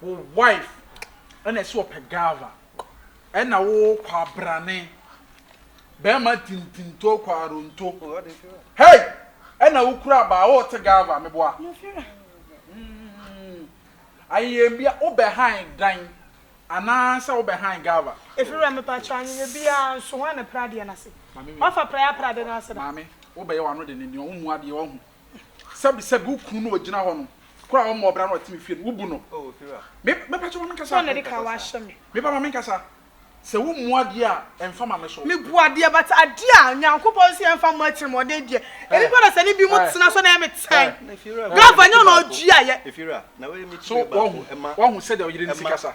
Wo wife ɛna ɛsɛ ɔpɛ gava ɛna wo kwabrane bɛɛma tintintoo kwaronto hey ɛna wo kura baa wo te gava meboa mm ayeyɛ bia wo bɛ han dan anaa sɛ wo bɛ han gava. Efirɛ me pa kyɛ anyeyɛ bia nso hwan na pira adeɛ no ase wafa pira ya pira adeɛ no ase da. Maame wo bɛ yɛ wano de ne nea wo mu adeɛ wahu sɛbisɛbi wo kunu no ogyina hɔ no koro a ɔmmɔ ɔbra no ɔte me fie no wo bu no me me pakyɛ ma me nkasa me ba ma me nkasa sɛ wo mmu adeɛ a ɛmfa ma me so me bu adeɛ but adeɛ a nyankopɔn sɛ yɛmfa mmɔ akyerɛ mu ɔdɛ deɛ ebi pa na sɛ ne bi mu tena so na yɛ me tɛn brava nyɛ na ɔdua yɛ so wahu wahu sɛ deɛ ɔyere ne si kasa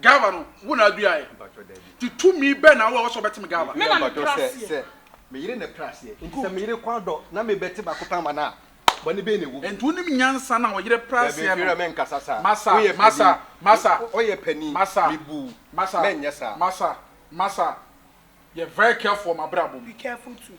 Gaba no, wo na aduaɛ. Nti tumi bɛn na wowɔ a ɛwɔ sɛ wobɛtem Gaba? Me na mepere aseɛ. Sɛ me yere na ɛpere aseɛ, nti sɛ me yere kɔ adɔ na mebɛte baako pɛ ama no a, bɔne bɛn na ɛwɔ mu? Nti wonim nyansa no a ɔyere pere aseɛ no? Dabi, Fiona, menkasa saa. Masa, Masa, Masa. Ɔyɛ panin. Masa. Mebu wo. Masa. Menyɛ saa. Masa, Masa, yɛ very careful wɔ m'abrabɔ mu. Be careful too.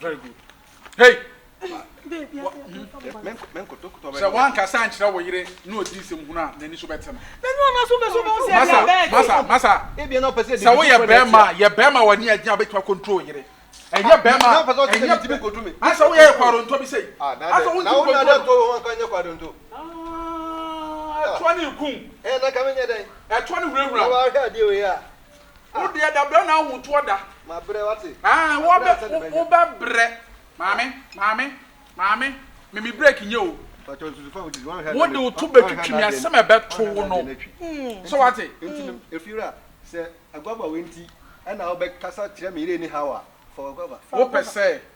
very good hey sɛ woankasa nkyerɛ wo yere na ɔdi nsɛm hunu a n'ani so bɛte no masa sɛ woyɛ bɛrima a yɛ bɛrima w'ani agye a wobɛtumi akontrol yere ɛnyɛ bɛrima asɛ woyɛ yɛ kwadontɔ bi sɛ asɛ wontikontro ɛtoa ne nkum ɛtoa ne hurahura Wo deɛ dabrɛ na ahotoɔ da. Mabrɛ wate. Aah wo bɛ wo bɛ brɛ. Maame maame maame me me break nyɛ o. Pacho nsusu fa wo didi wan hɛ na. Wo de wo to bɛ twitwi me asem ɛbɛ to wo no so wate. Nti no Efiewura sɛ aguaba wei nti ɛna wo bɛ kasa kyerɛ me yere ni haw a fa waguaba. Wo pɛ sɛ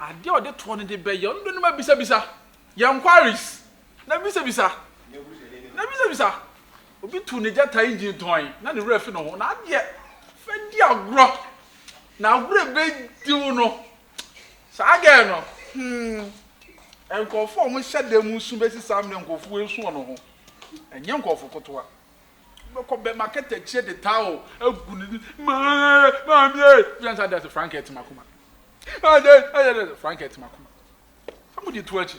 Adeɛ a ɔde toɔ no de bɛyɛ ɔno de no ma bisabisa yɛ enquiries na bisabisa na bisabisa obi tu ne gyata engine tɔn na ne werɛ fi ne ho na adeɛ fɛ di agorɔ na agorɔ ebe diw no saa gɛɛ no hmm nkurɔfoɔ a wɔn hyɛ dan mu nso bɛsi saa mmerɛ nkurɔfoɔ esu wɔn ho ɛnyɛ nkurɔfoɔ kotoa. Wobɛkɔ bɛma kɛtɛkyeɛ de towel agu ne ni. Maame, maame ee. Wobɛsan sɛ ade ase frank ɛte m'akoma. Ade, ade, ade, frank ɛte m'akoma. Sɛ mo de to akyi,